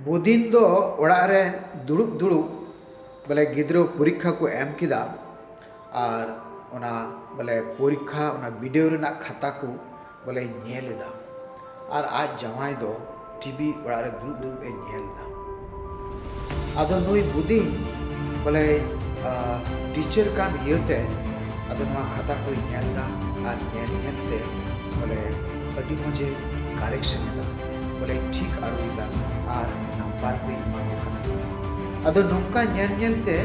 ᱵᱩᱫᱤᱱ ᱫᱚ ᱚᱲᱟᱜ ᱨᱮ ᱫᱩᱲᱩᱵ ᱫᱩᱲᱩᱵ ᱵᱚᱞᱮ ᱜᱤᱫᱽᱨᱟᱹ ᱯᱚᱨᱤᱠᱠᱷᱟ ᱠᱚ ᱮᱢ ᱠᱮᱫᱟ ᱟᱨ ᱚᱱᱟ ᱵᱚᱞᱮ ᱯᱚᱨᱤᱠᱠᱷᱟ ᱚᱱᱟ ᱵᱤᱰᱟᱹᱣ ᱨᱮᱱᱟᱜ ᱠᱷᱟᱛᱟ ᱠᱚ ᱵᱚᱞᱮᱭ ᱧᱮᱞ ᱮᱫᱟ ᱟᱨ ᱟᱡ ᱡᱟᱶᱟᱭ ᱫᱚ ᱴᱤᱵᱷᱤ ᱚᱲᱟᱜ ᱨᱮ ᱫᱩᱲᱩᱵ ᱫᱩᱲᱩᱵ ᱮ ᱧᱮᱞ ᱮᱫᱟ ᱟᱫᱚ ᱱᱩᱭ ᱵᱩᱫᱤᱱ ᱵᱚᱞᱮ ᱴᱤᱪᱟᱨ ᱠᱟᱱ ᱤᱭᱟᱹᱛᱮ ᱟᱫᱚ ᱱᱚᱣᱟ ᱠᱷᱟᱛᱟ ᱠᱚᱭ ᱧᱮᱞ ᱮᱫᱟ ᱟᱨ ᱧᱮᱞ ᱧᱮᱞ ᱛᱮ ᱵᱚᱞᱮ ᱟᱹᱰᱤ ᱢᱚᱡᱮ ᱠᱟᱨᱮᱠᱥᱚᱱ ᱮᱫᱟ ᱵᱚᱞᱮ ᱴᱷᱤᱠ ᱟᱹᱨᱩᱭᱮᱫᱟ ᱟᱨ ᱱᱟᱢᱵᱟᱨ ᱠᱚᱭ ᱮᱢᱟ ᱠᱚ ᱠᱟᱱᱟ᱾ ᱟᱫᱚ ᱱᱚᱝᱠᱟ ᱧᱮᱞ ᱧᱮᱞ ᱛᱮ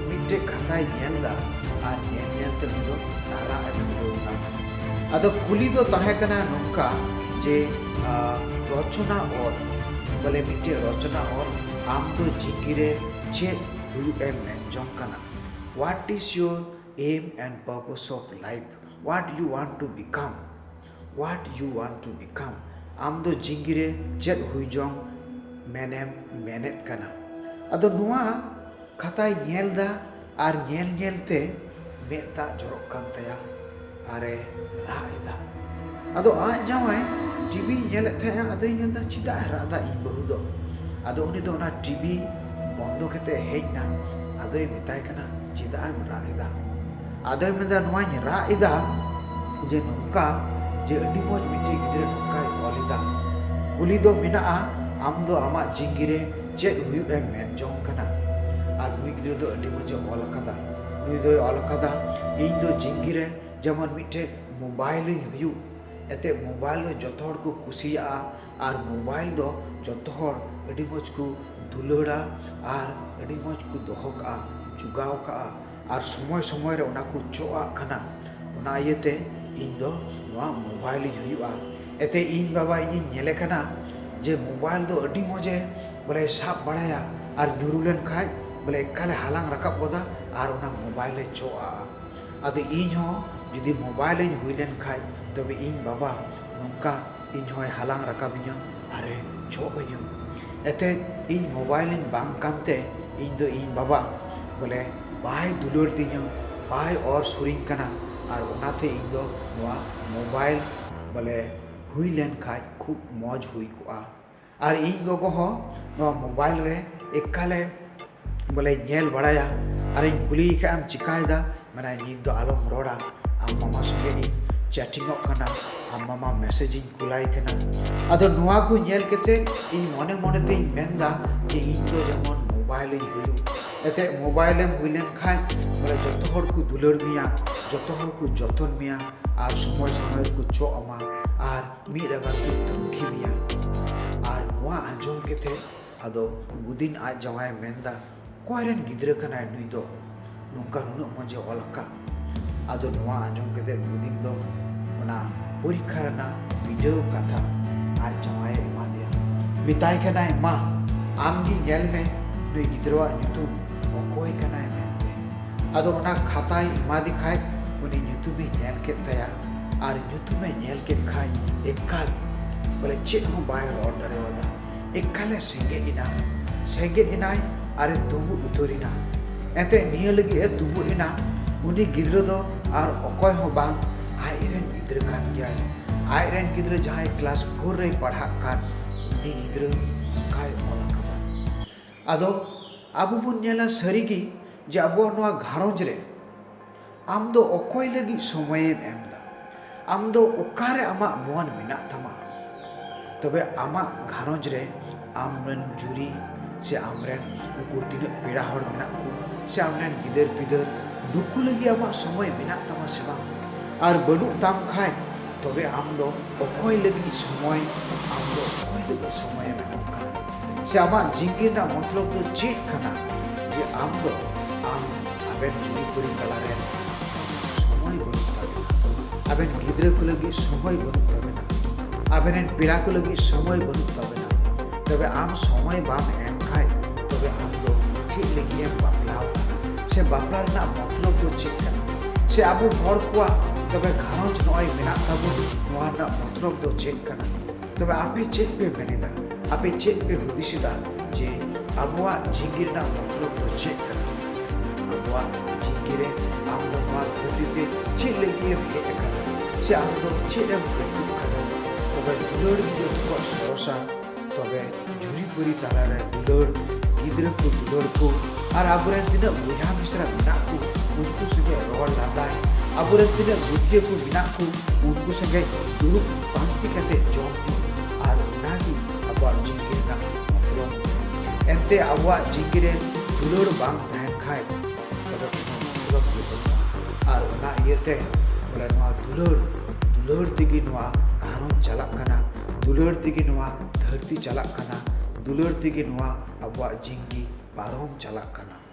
ᱢᱤᱫᱴᱮᱡ ᱠᱷᱟᱛᱟᱭ ᱧᱮᱞ ᱫᱟ ᱟᱨ ᱧᱮᱞ ᱧᱮᱞ ᱛᱮ ᱩᱱᱤ ᱫᱚ ᱨᱟᱨᱟᱜ ᱮ ᱫᱷᱩᱨᱟᱹᱣ ᱱᱟ᱾ ᱟᱫᱚ ᱠᱩᱞᱤ ᱫᱚ ᱛᱟᱦᱮᱸ ᱠᱟᱱᱟ ᱱᱚᱝᱠᱟ ᱡᱮ ᱨᱚᱪᱚᱱᱟ ᱚᱞ ᱵᱚᱞᱮ ᱢᱤᱫᱴᱮᱡ ᱨᱚᱪᱚᱱᱟ ᱚᱞ ᱟᱢ ᱫᱚ ᱪᱤᱠᱤ ᱨᱮ ᱪᱮᱫ ᱦᱩᱭᱩᱜ ᱮᱢ ᱢᱮᱱ ᱡᱚᱝ ᱠᱟᱱᱟ? What is your aim and purpose of life? What you want to become? What you want to become ᱟᱢ ᱫᱚ ᱡᱤᱣᱤ ᱨᱮ ᱪᱮᱫ ᱦᱩᱭ ᱡᱚᱝ ᱢᱮᱱᱮᱢ ᱢᱮᱱᱮᱫ ᱠᱟᱱᱟ ᱟᱫᱚ ᱱᱚᱣᱟ ᱠᱷᱟᱛᱟᱭ ᱧᱮᱞ ᱮᱫᱟ ᱟᱨ ᱧᱮᱞ ᱧᱮᱞ ᱛᱮ ᱢᱮᱫ ᱫᱟᱜ ᱡᱚᱨᱚᱜ ᱠᱟᱱ ᱛᱟᱭᱟ ᱟᱨ ᱮ ᱨᱟᱜ ᱮᱫᱟ ᱟᱫᱚ ᱟᱡ ᱡᱟᱶᱟᱭ ᱴᱤᱵᱷᱤ ᱧᱮᱞᱮᱫ ᱛᱟᱦᱮᱸᱫᱼᱟ ᱟᱫᱚᱭ ᱧᱮᱞ ᱮᱫᱟ ᱪᱮᱫᱟᱜ ᱮ ᱨᱟᱜ ᱮᱫᱟ ᱤᱧ ᱵᱟᱹᱦᱩ ᱫᱚ ᱟᱫᱚ ᱩᱱᱤ ᱫᱚ ᱚᱱᱟ ᱴᱤᱵᱷᱤ ᱵᱚᱱᱫᱚ ᱠᱟᱛᱮᱫ ᱦᱮᱡ ᱮᱱᱟ ᱟᱫᱚᱭ ᱢᱮᱛᱟᱭ ᱠᱟᱱᱟ ᱪᱮᱫᱟᱜ ᱮᱢ ᱨᱟᱜ ᱮᱫᱟ ᱟᱫᱚᱭ ᱢᱮᱱᱫᱟ ᱱᱚᱣᱟᱧ ᱨᱟᱜ ᱮᱫᱟ ᱡᱮ ᱱᱚᱝᱠᱟ ᱡᱮ ᱟᱹᱰᱤ ᱢᱚᱡᱽ ᱢᱤᱫᱴᱮᱡ ᱜᱤᱫᱽᱨᱟᱹ ᱱᱚᱝᱠᱟᱭ ᱚᱞ ᱮᱫᱟ᱾ ᱠᱩᱞᱤ ᱫᱚ ᱢᱮᱱᱟᱜᱼᱟ ᱟᱢ ᱫᱚ ᱟᱢᱟᱜ ᱡᱤᱝᱜᱤ ᱨᱮ ᱪᱮᱫ ᱦᱩᱭᱩᱜ ᱮᱢ ᱢᱮᱱ ᱡᱚᱝ ᱠᱟᱱᱟ? ᱟᱨ ᱱᱩᱭ ᱜᱤᱫᱽᱨᱟᱹ ᱫᱚ ᱟᱹᱰᱤ ᱢᱚᱡᱽ ᱮ ᱚᱞ ᱟᱠᱟᱫᱟ᱾ ᱱᱩᱭ ᱫᱚᱭ ᱚᱞ ᱟᱠᱟᱫᱟ ᱤᱧ ᱫᱚ ᱡᱤᱝᱜᱤ ᱨᱮ ᱡᱮᱢᱚᱱ ᱢᱤᱫᱴᱮᱡ ᱢᱳᱵᱟᱭᱤᱞ ᱤᱧ ᱦᱩᱭᱩᱜ᱾ ᱮᱱᱛᱮ ᱢᱳᱵᱟᱭᱤᱞ ᱫᱚ ᱡᱚᱛᱚ ᱦᱚᱲ ᱠᱚ ᱠᱩᱥᱤᱭᱟᱜᱼᱟ ᱟᱨ ᱢᱳᱵᱟᱭᱤᱞ ᱫᱚ ᱡᱚᱛᱚ ᱦᱚᱲ ᱟᱹᱰᱤ ᱢᱚᱡᱽ ᱠᱚ ᱫᱩᱞᱟᱹᱲᱟ ᱟᱨ ᱟᱹᱰᱤ ᱢᱚᱡᱽ ᱠᱚ ᱫᱚᱦᱚ ᱠᱟᱜᱼᱟ, ᱡᱚᱜᱟᱣ ᱠᱟᱜᱼᱟ᱾ ᱟᱨ ᱥᱚᱢᱚᱭ ᱥᱚᱢᱚᱭ ᱨᱮ ᱚᱱᱟ ᱠᱚ ᱪᱚᱜᱼᱟᱜ ᱠᱟᱱᱟ ᱚᱱᱟ ᱤᱭᱟᱹ ᱛᱮ ᱤᱧ ᱫᱚ ᱱᱚᱣᱟ ᱢᱳᱵᱟᱭᱤᱞ ᱤᱧ ᱦᱩᱭᱩᱜᱼᱟ ᱮᱛᱮ ᱤᱧ ᱵᱟᱵᱟ ᱤᱧᱤᱧ ᱧᱮᱞᱮ ᱠᱟᱱᱟ ᱡᱮ ᱢᱳᱵᱟᱭᱤᱞ ᱫᱚ ᱟᱹᱰᱤ ᱢᱚᱡᱽ ᱮ ᱵᱚᱞᱮ ᱥᱟᱵ ᱵᱟᱲᱟᱭᱟ ᱟᱨ ᱧᱩᱨᱩ ᱞᱮᱱᱠᱷᱟᱱ ᱵᱚᱞᱮ ᱮᱠᱟᱞ ᱮ ᱦᱟᱞᱟᱝ ᱨᱟᱠᱟᱵ ᱜᱚᱫᱟ ᱟᱨ ᱚᱱᱟ ᱢᱳᱵᱟᱭᱤᱞ ᱮ ᱪᱚᱜᱼᱟᱜᱼᱟ ᱟᱫᱚ ᱤᱧ ᱦᱚᱸ ᱡᱩᱫᱤ ᱢᱳᱵᱟᱭᱤᱞ ᱤᱧ ᱦᱩᱭ ᱞᱮᱱᱠᱷᱟᱱ ᱛᱚᱵᱮ ᱤᱧ ᱵᱟᱵᱟ ᱱᱚᱝᱠᱟ ᱤᱧ ᱦᱚᱸᱭ ᱦᱟᱞᱟᱝ ᱨᱟᱠᱟᱵᱤᱧᱟ ᱟᱨ ᱮ ᱡᱷᱚᱜ ᱟᱹᱧᱟ᱾ ᱮᱛᱮᱫ ᱤᱧ ᱢᱳᱵᱟᱭᱤᱞ ᱤᱧ ᱵᱟᱝ ᱠᱟᱱᱛᱮ ᱤᱧ ᱫᱚ ᱤᱧ ᱵᱟᱵᱟ ᱵᱚᱞᱮ ᱵᱟᱭ ᱫᱩᱞᱟᱹᱲ ᱫᱤᱧᱟ, ᱵᱟᱭ ᱚᱨ ᱥᱩᱨᱤᱧ ᱠᱟᱱᱟ ᱟᱨ ᱚᱱᱟᱛᱮ ᱤᱧ ᱫᱚ ᱱᱚᱣᱟ ᱢᱳᱵᱟᱭᱤᱞ ᱵᱚᱞᱮ ᱦᱩᱭ ᱞᱮᱱ ᱠᱷᱟᱡ ᱠᱷᱩᱵ ᱢᱚᱡᱽ ᱦᱩᱭ ᱠᱚᱜᱼᱟ᱾ ᱟᱨ ᱤᱧ ᱜᱚᱜᱚ ᱦᱚᱸ ᱱᱚᱣᱟ ᱢᱳᱵᱟᱭᱤᱞ ᱨᱮ ᱮᱠᱟᱞᱮ ᱵᱚᱞᱮ ᱧᱮᱞ ᱵᱟᱲᱟᱭᱟ ᱟᱨᱤᱧ ᱠᱩᱞᱤᱭᱮ ᱠᱷᱟᱱ ᱟᱢ ᱪᱤᱠᱟᱹᱭᱮᱫᱟ ᱢᱮᱱᱟᱭ ᱱᱤᱛ ᱫᱚ ᱟᱞᱚᱢ ᱨᱚᱲᱟ ᱟᱢ ᱢᱟᱢᱟ ᱥᱚᱸᱜᱮ ᱤᱧ ᱪᱮᱴᱤᱝ ᱚᱜ ᱠᱟᱱᱟ ᱟᱢ ᱢᱟᱢᱟ ᱢᱮᱥᱮᱡᱽ ᱤᱧ ᱠᱩᱞᱟᱭ ᱠᱟᱱᱟ ᱟᱫᱚ ᱱᱚᱣᱟ ᱠᱚ ᱧᱮᱞ ᱠᱟᱛᱮ ᱤᱧ ᱢᱚᱱᱮ ᱢᱚᱱᱮ ᱛᱤᱧ ᱢᱮᱱᱫᱟ ᱡᱮ ᱤᱧ ᱫᱚ ᱡᱮᱢᱚᱱ ᱢᱳᱵᱟᱭᱤᱞ ᱤᱧ ᱦᱩᱭᱩᱜ ᱮᱱᱛᱮᱫ ᱢᱳᱵᱟᱭᱤᱞ ᱮᱢ ᱦᱩᱭ ᱞᱮᱱ ᱠᱷᱟᱱ ᱵᱚᱞᱮ ᱡᱚᱛᱚ ᱦᱚᱲ ᱠᱚ ᱫᱩᱞᱟᱹᱲ ᱢᱮᱭᱟ ᱡᱚᱛᱚ ᱦᱚᱲ ᱠᱚ ᱡᱚᱛᱚᱱ ᱢᱮᱭᱟ ᱟᱨ ᱥᱚᱢᱚᱭ ᱥᱚᱢᱚᱭ ᱨᱮᱠᱚ ᱪᱚᱜ ᱟᱢᱟ ᱟᱨ ᱢᱤᱫ ᱨᱟᱜᱟ ᱠᱚ ᱛᱩᱱᱠᱷᱤ ᱢᱮᱭᱟ ᱟᱨ ᱱᱚᱣᱟ ᱟᱸᱡᱚᱢ ᱠᱟᱛᱮ ᱟᱫᱚ ᱜᱩᱫᱤᱱ ᱟᱡ ᱡᱟᱶᱟᱭᱮ ᱢᱮᱱᱫᱟ ᱚᱠᱚᱭ ᱨᱮᱱ ᱜᱤᱫᱽᱨᱟᱹ ᱠᱟᱱᱟᱭ ᱱᱩᱭ ᱫᱚ ᱱᱚᱝᱠᱟ ᱱᱩᱱᱟᱹᱜ ᱢᱚᱡᱽ ᱮ ᱚᱞ ᱟᱠᱟᱫ ᱟᱫᱚ ᱱᱚᱣᱟ ᱟᱸᱡᱚᱢ ᱠᱟᱛᱮ ᱜᱩᱫᱤᱱ ᱫᱚ ᱚᱱᱟ ᱯᱚᱨᱤᱠᱠᱷᱟ ᱨᱮᱱᱟᱜ ᱵᱤᱰᱟᱹᱣ ᱠᱟᱛᱷᱟ ᱟᱨ ᱡᱟᱶᱟᱭᱮ ᱮᱢᱟ ᱫᱮᱭᱟ ᱢᱮᱛᱟᱭ ᱠᱟᱱᱟᱭ ᱢᱟ ᱟᱢ ᱜᱮ ᱧᱮᱞ ᱢᱮ ᱱᱩᱭ ᱜᱤᱫᱽᱨᱟᱹᱣᱟᱜ ᱧᱩᱛᱩᱢ ᱚᱠᱚᱭ ᱠᱟᱱᱟᱭ ᱢᱮᱱᱛᱮ ᱟᱫᱚ ᱚᱱᱟ ᱠᱷᱟᱛᱟᱭ ᱮᱢᱟᱫᱮ ᱠᱷᱟᱡ ᱩᱱᱤ ᱧᱩᱛᱩᱢᱮ ᱧᱮᱞ ᱠᱮᱫ ᱛᱟᱭᱟ ᱟᱨ ᱧᱩᱛᱩᱢ ᱮ ᱧᱮᱞ ᱠᱮᱫ ᱠᱷᱟᱱ ᱮᱠᱟᱞ ᱵᱚᱞᱮ ᱪᱮᱫ ᱦᱚᱸ ᱵᱟᱭ ᱨᱚᱲ ᱫᱟᱲᱮᱣᱟᱫᱟ ᱮᱠᱟᱞ ᱮ ᱥᱮᱸᱜᱮᱫ ᱮᱱᱟ ᱥᱮᱸᱜᱮᱫ ᱮᱱᱟᱭ ᱟᱨ ᱮ ᱫᱩᱵᱩᱜ ᱩᱛᱟᱹᱨ ᱮᱱᱟ ᱮᱱᱛᱮ ᱱᱤᱭᱟᱹ ᱞᱟᱹᱜᱤᱫ ᱮ ᱫᱩᱵᱩᱜ ᱮᱱᱟ ᱩᱱᱤ ᱜᱤᱫᱽᱨᱟᱹ ᱫᱚ ᱟᱨ ᱚᱠᱚᱭ ᱦᱚᱸ ᱵᱟᱝ ᱟᱡ ᱨᱮᱱ ᱜᱤᱫᱽᱨᱟᱹ ᱠᱟᱱ ᱜᱮᱭᱟᱭ ᱟᱡ ᱨᱮᱱ ᱜᱤᱫᱽᱨᱟᱹ ᱡᱟᱦᱟᱸᱭ ᱠᱞᱟᱥ ᱯᱷᱳᱨ ᱨᱮᱭ ᱯᱟᱲᱦᱟᱜ ᱠᱟᱱ ᱩᱱᱤ ᱜᱤᱫᱽᱨᱟᱹ ᱚᱱᱠᱟᱭ ᱚᱞ ᱟᱠᱟᱫᱟ ᱟᱫᱚ ᱟᱵᱚ ᱵᱚᱱ ᱧᱮᱞᱟ ᱥᱟᱹᱨᱤ ᱜᱮ ᱡᱮ ᱟᱵᱚᱣᱟᱜ ᱱᱚᱣᱟ ᱜᱷᱟᱨᱚᱸᱡᱽ ᱨᱮ ᱟᱢ ᱫᱚ ᱚᱠᱚᱭ ᱞᱟᱹᱜᱤᱫ ᱥᱚᱢᱚᱭᱮᱢ ᱮᱢ ᱮᱫᱟ? ᱟᱢ ᱫᱚ ᱚᱠᱟ ᱨᱮ ᱟᱢᱟᱜ ᱢᱚᱱ ᱢᱮᱱᱟᱜ ᱛᱟᱢᱟ? ᱛᱚᱵᱮ ᱟᱢᱟᱜ ᱜᱷᱟᱨᱚᱸᱡᱽ ᱨᱮ ᱟᱢ ᱨᱮᱱ ᱡᱩᱨᱤ ᱥᱮ ᱟᱢ ᱨᱮᱱ ᱱᱩᱠᱩ ᱛᱤᱱᱟᱹᱜ ᱯᱮᱲᱟ ᱦᱚᱲ ᱢᱮᱱᱟᱜ ᱠᱚ ᱥᱮ ᱟᱢ ᱨᱮᱱ ᱜᱤᱫᱟᱹᱨ ᱯᱤᱫᱟᱹᱨ ᱱᱩᱠᱩ ᱞᱟᱹᱜᱤᱫ ᱟᱢᱟᱜ ᱥᱚᱢᱚᱭ ᱢᱮᱱᱟᱜ ᱛᱟᱢᱟ ᱥᱮ ᱵᱟᱝ? ᱟᱨ ᱵᱟᱹᱱᱩᱜ ᱛᱟᱢ ᱠᱷᱟᱱ ᱛᱚᱵᱮ ᱟᱢ ᱫᱚ ᱚᱠᱚᱭ ᱞᱟᱹᱜᱤᱫ ᱥᱚᱢᱚᱭ? ᱟᱢ ᱫᱚ ᱚᱠᱚᱭ ᱞᱟᱹᱜᱤᱫ ᱥᱚᱢᱚᱭ ᱮᱢ ᱮᱢᱚᱜ ᱠᱟᱱᱟ? ᱥᱮ ᱟᱢᱟᱜ ᱡᱤᱱᱜᱤ ᱨᱮᱱᱟᱜ ᱢᱚᱛᱞᱚᱵ ᱫᱚ ᱪᱮᱫ ᱠᱟᱱᱟ ᱡᱮ ᱟᱢ ᱫᱚ ᱟᱢ ᱟᱵᱮᱱ ᱡᱩᱨᱤᱯᱩᱨᱤ ᱛᱟᱞᱟ ᱨᱮ ᱥᱚᱢᱚᱭ ᱵᱟᱹᱱᱩᱜ ᱛᱟᱵᱮᱱᱟ, ᱟᱵᱮᱱ ᱜᱤᱫᱽᱨᱟᱹ ᱠᱚ ᱞᱟᱹᱜᱤᱫ ᱥᱚᱢᱚᱭ ᱵᱟᱹᱱᱩᱜ ᱛᱟᱵᱮᱱᱟ, ᱟᱵᱮᱱ ᱨᱮᱱ ᱯᱮᱲᱟ ᱠᱚ ᱞᱟᱹᱜᱤᱫ ᱥᱚᱢᱚᱭ ᱵᱟᱹᱱᱩᱜ ᱛᱟᱵᱮᱱᱟ, ᱛᱚᱵᱮ ᱟᱢ ᱥᱚᱢᱚᱭ ᱵᱟᱢ ᱮᱢ ᱠᱷᱟᱡ ᱛᱚᱵᱮ ᱟᱢ ᱫᱚ ᱪᱮᱫ ᱞᱟᱹᱜᱤᱫ ᱮᱢ ᱵᱟᱯᱞᱟ ᱟᱠᱟᱱᱟ? ᱥᱮ ᱵᱟᱯᱞᱟ ᱨᱮᱱᱟᱜ ᱢᱚᱛᱞᱚᱵ ᱫᱚ ᱪᱮᱫ ᱠᱟᱱᱟ ᱥᱮ ᱟᱵᱚ ᱦᱚᱲ ᱠᱚᱣᱟᱜ ᱛᱚᱵᱮ ᱜᱷᱟᱨᱚᱸᱡᱽ ᱱᱚᱜᱼᱚᱭ ᱢᱮᱱᱟᱜ ᱛᱟᱵᱚᱱ ᱱᱚᱣᱟ ᱨᱮᱱᱟᱜ ᱢᱚᱛᱞᱚᱵ ᱫᱚ ᱪᱮᱫ ᱠᱟᱱᱟ ᱛᱚᱵᱮ ᱟᱯᱮ ᱪᱮᱫ ᱯᱮ ᱢᱮᱱᱮᱫᱟ ᱟᱯᱮ ᱪᱮᱫ ᱯᱮ ᱦᱩᱫᱤᱥᱮᱫᱟ ᱡᱮ ᱟᱵᱚᱣᱟᱜ ᱡᱤᱸᱫᱜᱤ ᱨᱮᱱᱟᱜ ᱢᱚᱛᱞᱚᱵ ᱫᱚ ᱪᱮᱫ ᱠᱟᱱᱟ ᱟᱵᱚᱣᱟᱜ ᱡᱤᱸᱫᱜᱤ ᱨᱮ ᱟᱢ ᱫᱚ ᱱᱚᱣᱟ ᱫᱷᱟᱹᱨᱛᱤ ᱛᱮ ᱪᱮᱫ ᱞᱟᱹᱜᱤᱫ ᱮᱢ ᱦᱮᱡ ᱟᱠᱟᱱᱟ ᱥᱮ ᱟᱢ ᱫᱚ ᱪᱮᱫ ᱮᱢ ᱟᱹᱭᱠᱟᱹᱜ ᱠᱟᱱᱟ ᱛᱚᱵᱮ ᱫᱩᱞᱟᱹᱲ ᱜᱮ ᱡᱚᱛᱚ ᱠᱷᱚᱱ ᱥᱚᱨᱚᱥᱟ ᱛᱚᱵᱮ ᱡᱷᱩᱨᱤ ᱯᱩᱨᱤ ᱛᱟᱞᱟᱨᱮ ᱫᱩᱞᱟᱹᱲ ᱜᱤᱫᱽᱨᱟᱹ ᱠᱚ ᱫᱩᱞᱟᱹᱲ ᱠᱚ ᱟᱨ ᱟᱵᱚᱨᱮᱱ ᱛᱤᱱᱟᱹᱜ ᱵᱚᱭᱦᱟ ᱢᱤᱥᱨᱟ ᱢᱮᱱᱟᱜ ᱠᱚ ᱩᱱᱠᱩ ᱥᱚᱸᱜᱮ ᱨᱚᱲ ᱞᱟᱸᱫᱟᱭ ᱟᱵᱚᱨᱮᱱ ᱛᱤᱱᱟᱹᱜ ᱜᱩᱨᱡᱤᱭᱟᱹ ᱠᱚ ᱢᱮᱱᱟᱜ ᱠᱚ ᱩᱱᱠᱩ ᱥᱚᱸᱜᱮ ᱫᱩᱲᱩᱵ ᱯᱟᱱᱛᱮ ᱠᱟᱛᱮ ᱡᱚᱢ ᱧᱩ ᱟᱨ ᱚᱱᱟᱜᱮ ᱟᱵᱚᱣᱟᱜ ᱡᱤᱱᱫᱜᱤ ᱨᱮᱱᱟᱜ ᱢᱚᱛᱞᱚᱵ ᱮᱱᱛᱮ ᱟᱵᱚᱣᱟᱜ ᱡᱤᱱᱫᱜᱤ ᱨᱮ ᱫᱩᱞᱟᱹᱲ ᱵᱟᱝ ᱛᱟᱦᱮᱱ ᱠᱷᱟᱡ ᱟᱨ ᱚᱱᱟ ᱤᱭᱟᱹᱛᱮ ᱵᱚᱞᱮ ᱱᱚᱣᱟ ᱫᱩᱞᱟᱹᱲ ᱫᱩᱞᱟᱹᱲ ᱛᱮᱜᱮ ᱱᱚᱣᱟ ᱜᱷᱟᱨᱚᱸᱡᱽ ᱪᱟᱞᱟᱜ ᱠᱟᱱᱟ ᱫᱩᱞᱟᱹᱲ ᱛᱮᱜᱮ ᱱᱚᱣᱟ ᱫᱷᱟᱹᱨᱛᱤ ᱪᱟᱞᱟᱜ ᱠᱟᱱᱟ ᱫᱩᱞᱟᱹᱲ ᱛᱮᱜᱮ ᱱᱚᱣᱟ ᱟᱵᱚᱣᱟᱜ ᱡᱤᱱᱫᱮᱜᱤ ᱯᱟᱨᱚᱢ ᱪᱟᱞᱟᱜ ᱠᱟᱱᱟ